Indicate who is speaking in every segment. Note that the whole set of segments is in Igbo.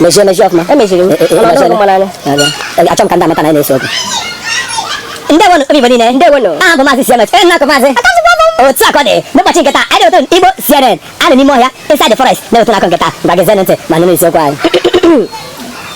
Speaker 1: mechie mechie ọfụma emechiri m achọ m ka ndị amata na anyị na-ese okwu ndewonu everybody niile ndewonu aha m bụ maazị cms onye na-akọ maazị otu akụkọ dị n'ụbọchị nke taa anyị na-ewetu igbo cnn a nọ n'ime ọhịa inside the forest na-ewetu unu akụkọ nke taa ngwa gezienụ ntị ma nụrụ isiokwu anyị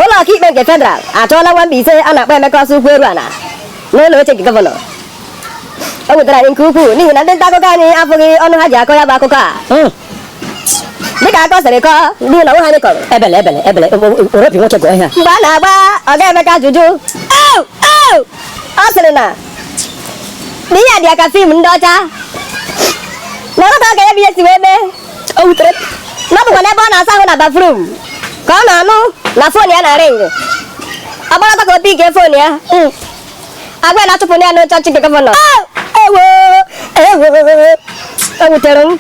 Speaker 1: ụlọ ọkaikpe nke federal achụọla nwa Mbaise a na-akpọ emeka ọsọ ụkwụ eru ala n'elu oche nke gọvanọ o wutere anyị nke ukwuu n'ihi na ndị nta akụkọ anyị afụghị ọnụ ha ji akọ ya bụ akụkọ a hmm. dịka akụkọ sịrị kọọ ndị ụlọ nwa anyị kọrọ ebele ebele ebele oropi nwoke gụọ ihe a mgbe a na-agba ọga emeka ajụjụ ọ sịrị na na ihe a dị ya ka film ndị ọcha na ọ ghọtaghị ka ya bụ ihe si wee mee o wutere na ọ bụkwa n'ebe ọ na-asa ahụ na bathroom ka ọ na-anụ na phone ya na-ring ọ gbara ọtọ ka o pickie phone ya hmm. a gwa ya na achụpụ ya n'oche ọchịchị nke gọvanọ ewo ewo o wutere m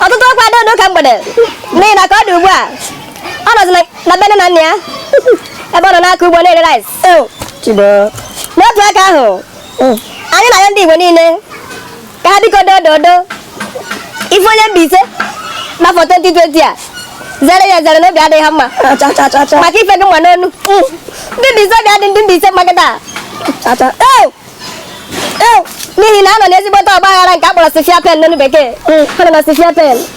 Speaker 1: ọtụtụ ọkwa dị ụdị ụka mgbede n'ihi na ka ọ dị ugbu a ọ nọzi na be nne na nna ya ebe ọ nọ na-akọ ugbo na-ere rice n'otu aka ahụ anyị na-ayọ ndị Igbo niile ka ha biko dododo ị fụ onye Mbaise n'afọ 2020 a zere ya zere na obi adịghị ha mma maka ife ị ga-anụ n'ọnụ ndị Mbaise obi adị ndị Mbaise mma kịta n'ihi na ha nọ n'ezigbote ọgba aghara nke a kpọrọ severe pain n'onu bekee ha nọ na severe pain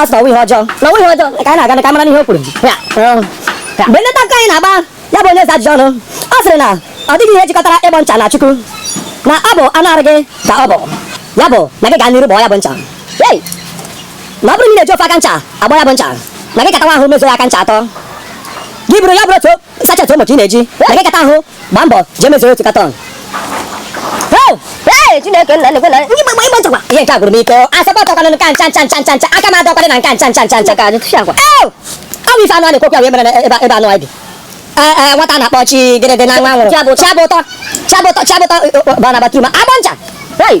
Speaker 1: ọ sị na ọ wụghị ihe ọjọọ na ọ wụghị ihe ọjọọ ka anyị na-aga ka anyị mara n'ihe o kwuru Ya, um, ya. mgbe ndị nta akụkọ anyị na-agba ya bụ onye eze ajụjụ ọnụ ọ sịrị na ọ dịghị ihe jikọtara ịgbọ ncha na chukwu na ọ bụ anụ arụ gị ka ọ bụ ya bụ na gị gaa n'iru gbọọ ya bụ ncha Hey! na ọ bụrụ na ị na-eji ofu aka ncha agbọ ya bụ ncha na gị katawa ahụ mezuo ya aka ncha atọ gị buru ya bụrụ otu sachet Omo ka ị na-eji na gị kata ahụ gbaa mbọ jee mezuo otu carton Chineke nna ekwena ịgbọ ịgbọ ịgbọ ncha kwa ihe nke a gwụrụ m ike asọpụ ọtọkwanụ nke a ncha ncha ncha ncha ncha aka m adịkwaghị na nke a ncha ncha ncha ncha kai tufiakwa ọ bụ ife anụ a na-ekwu okwu ya wee mere ebe ebe anụ anyị bi Ee, ee, nwata a na-akpọ chi gịrịdị na nwa nwụrụ Chiabụtọ. chiabụtọ chiabụtọ chiabụtọ bara na bathroom agbọ ncha Hey!